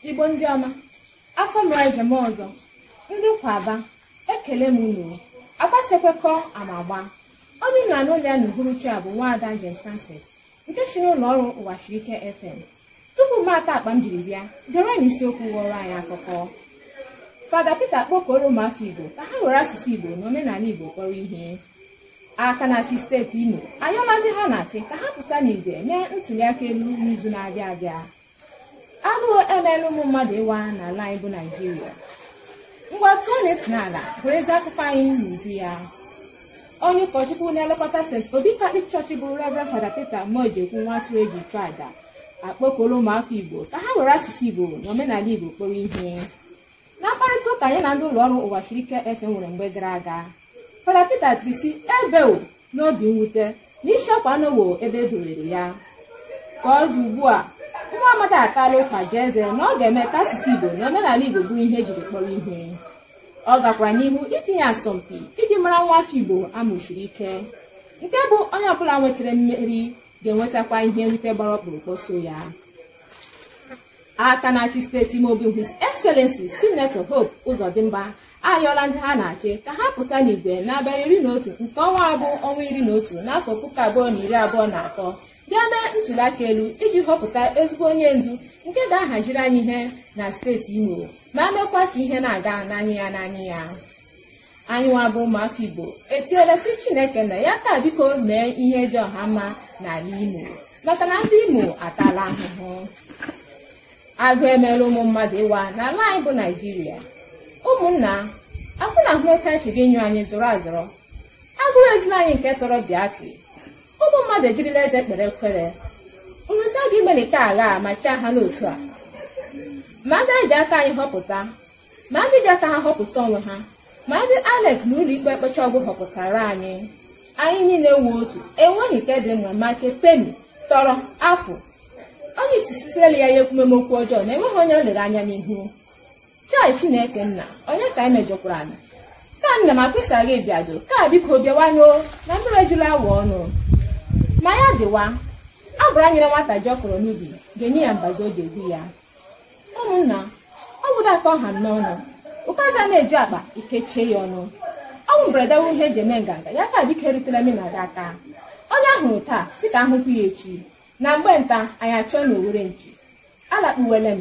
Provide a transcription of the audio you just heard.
igbo ndị ọma afọ mere njem ọzọ ndị kwaba ekelee m unu agbasekwekọ ama agbaa onye na-anụ olu ya n'uhuruchi a bụ nwaada jane francis nke si n'ụlọ ọrụ ụwa siri ike fm tupu m atọọ akpa m jiri bịa gerenụ isiokwu ghọrọ anyị akụkọ fada peter kpọkuru ụmụafọ igbo ka ha were asụsụ igbo na omenala igbo kpọrọ ihe aka na-achị steeti imo ayọọla ndị ha na-achị ka ha pụta n'igwe mee ntụliaka elu n'izu na-abịa abịa agụụ emeela ụmụ mmadụ ịwa n'ala anyị bụ naijiria ngwa tọọnụ ntị n'ala nụrụzie akụkọ anyị n'uju ya onye ụkọchukwu na-elekọta st obi katọlik chọọchị bụ reverend fada peter mojekwu nwa atụrụ eji chụọ aja akpọkuola ụmụafọ igbo ka ha were asụsụ igbo na omenala igbo kpọrọ ihe na mkparịta ụka ya na ndị ụlọ ọrụ ụwa siri ike fm nwere mgbe gara aga fada peter tiri sị ebewo n'obi mwute na isiokwu anọwo ebe e dowere ya ka ọ dị ugbu a nwa amadi atala ụka ji eze na ọ ga-eme ka asụsụ Igbo na omenala Igbo bụrụ ihe ejiri kpọrọ ihe ọ gakwara n'ihu itinye asọmpi iji mara nwa afọ Igbo a mụsiri ike nke bụ onye ọbụla nwetara mmeri ga-enwetakwa ihe nrite gbara ọkpụrụkpụ so ya aka na-achị steeti imo bụ his excellency sinetọ hope ụzọdịmba ayọọla ndị ha na-achị ka ha pụta n'igwe n'abalị iri na otu nke ọnwa a bụ ọnwa iri na otu n'afọ puku abụọ na iri abụọ na atọ bịa mee ntụliaka elu iji họpụta ezigbo onye ndu nke ga-ahaziri anyị ihe na steeti imo ma mekwa ka ihe na-aga n'anya ya n'anya ya anyị nwa bụ ụmụafọ igbo etiela sị chineke nna ya kaa biko mee ihe dị ọha mma n'ala imo maka na ndị imo atala ahụhụ agụụ emeela ụmụ mmadụ ịwa n'ala anyị bụ naijiria ụmụnna akwụ na ahụ otu anyị si gị nyụ anyị zụrụ azụrụ agụrụ ezila anyị nke tọrọ biati ụmụ mmadụ ejirila eze kpere ekwere nrụsa gị melite agha a ma chaa ha n'otu a ma ndị anyị ji aka anyị họpụta ma ndị ji aka ha họpụta onwe ha ma ndị inec na ụlọ ikpe mkpecha ọ gwụ họpụtaara anyị anyị niile wụ otu enweghị nke dị mma ma nke peni tọrọ afụ onye isi sisiele ya ya ekwumeme okwu ọjọọ na enweghị onye o lere anya n'ihu chai chineke nna onye ka anyị mejọkwaranụ ka nna m akpịsa gị bịado kaa biko bịawanụ na mmiri ejula awọ ọnụ ma ya dịwa ọ bụrụ e nyere nwata ji a kọrọ n'ubi ga-enye ya mbazụ o ji egwu ya ụmụnna ọ bụ otu a ka ọ ha m n'ọnụ ọkazị na-eju akpa e kechie ya ọnụ ọnwụ mberede wụ ihe eji eme nganga ya kaa biko erutela m na gị aka onye a hụrụ taa sị ka a hụkwa ya echi na mgbe nta anyị achụọ n'owere nchi alakpuwela m